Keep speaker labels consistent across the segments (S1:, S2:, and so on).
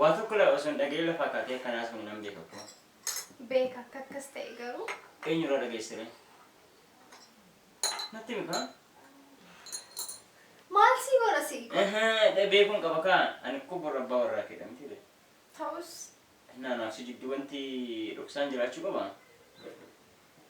S1: Waa tokko ilaa osoo hin dhaga'in lafaa kaatee akka naas kun nan beeka koo. Beeka akka
S2: akkas ta'e garuu. Eenyu irraa dhageesse
S1: ree? Natti himi kaa.
S2: Maal sii godha sii godha. Ehe beekuun qaba
S1: kaa ani koo borra abbaa warraa keedha miti ree. Ta'us.
S2: Naa naaf si
S1: jidduu wanti dhoksaan jiraachuu qabaa?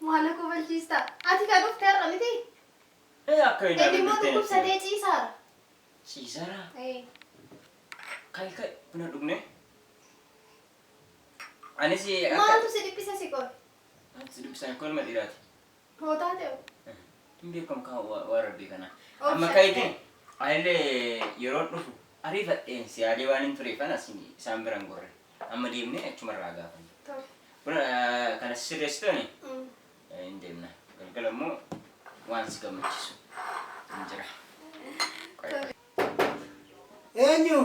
S1: Maal
S2: na kofalchiista? Ati kan dhufte har'a miti? Ee akka
S1: hin Inni immoo argitee dhukkubsatee
S2: ciisaara. Ciisara.
S1: Ee. Kai kai buna dhugne. Anis akka Maaltu si dhiphisa
S2: si qor? si dubbisaan
S1: kun ilma dhiiraati. Mootaa
S2: ta'e. Hin beekamu
S1: kan wa- waan rabbii kana. Of Amma shakkee. ka'itiin anillee yeroon dhufu ariifadheen si yaadee waan hin tureef anas isaan biran gorre. Amma deemnee achuma irraa gaafanna. Tole. Buna eh, kana sirreessitooni Mm. eh, hin deemna. Galgala immoo waan si gammachiisu hin jira. Qoy, qoy.
S3: Eenyu?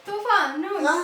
S2: Tufaa nuun. Ah,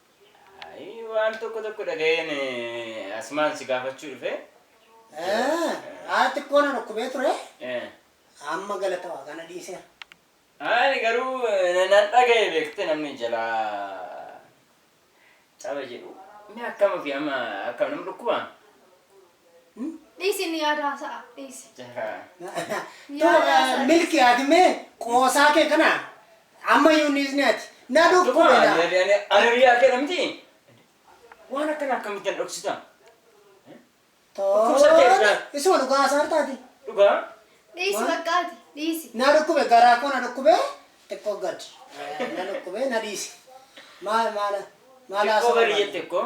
S3: Ayi
S1: waan tokko tokko dhaga'een eh, asumaan si gaafachuu dhufe. Eh, Haa
S3: xiqqoo na dhukkubee ture. Eh, Amma galata waaqaa na dhiiseera. Ani
S1: garuu eh, nan dhaga'e beekte namni jalaa caba jedhu. Inni akkam ofii amma akkam nama dhukkuba?
S2: Dhiisi inni yaada haasa'a dhiisi. Tu
S3: milki ati mee qoosaa kee kana ammayyuu niisni ati na dhukkube na. Aririyaa kee namti
S1: waan akkana akkamittan dhoksitan. Tooni
S3: isuma dhugaa haasaan taati. Dhugaa.
S1: Dhiisi bakka
S2: ati dhiisi. Na dhukkube garaa koo
S3: na dhukkube xiqqoo gad na dhukkube na dhiisi. Maal maala maala haasa'u. Xiqqoo
S1: gadi jette koo.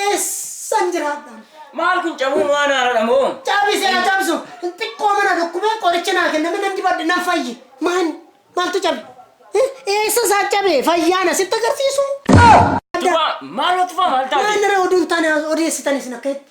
S3: Eessan jiraadha? Maal kun cabuun
S1: waan haaradha moo? Cabi si haa cabsu.
S3: Xiqqooma na dhukkubee qoricha naa kenname nan dibadhe nan fayye. Maan maaltu cabe? Eh, Eessa isaa cabe? Fayyaana sitti agarsiisu? Tufaa
S1: maaloo tufaa maal taate? Maal nara oduun taane
S3: odeessitan isin akka itti?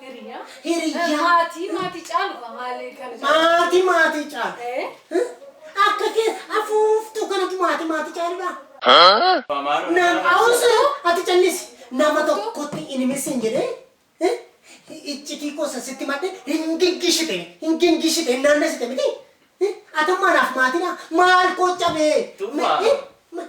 S4: Hiriyaa. Hiriyaa. Maatii maatii caaludha maali kan Maatii
S3: maatii caalu. Eh? Akka kee afuuftuu kanatu maatii maatii caaludha. Nam awusu ati callisi. Nama tokkotti hin himissin jedhee. eh? Iccitii koo sasitti madde hin giggishite. Hin giggishite hin naannessite miti. Eh? Atammaa naaf maatiidha. Maal koo cabee. Tummaa. Eh? Ma-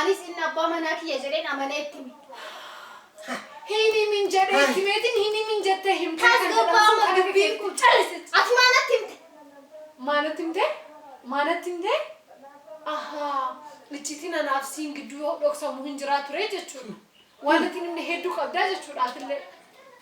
S2: Anis inni abbaa manaa kiyya jedheen amanee itti hime. Hin himin
S4: jedhee itti himeetiin hin himin jettee himtee kan jedhamtu Tasgabbaa'uma akka dubbiin
S2: keetti. kun callisi. Ati maa natti himte? Maa natti himtee?
S4: Maa natti himtee? Ahaa, iccitiin anaaf siin gidduu dhoksamu hin jiraa ture jechuudha. Waan natti hin himne hedduu qabdaa jechuudha atillee.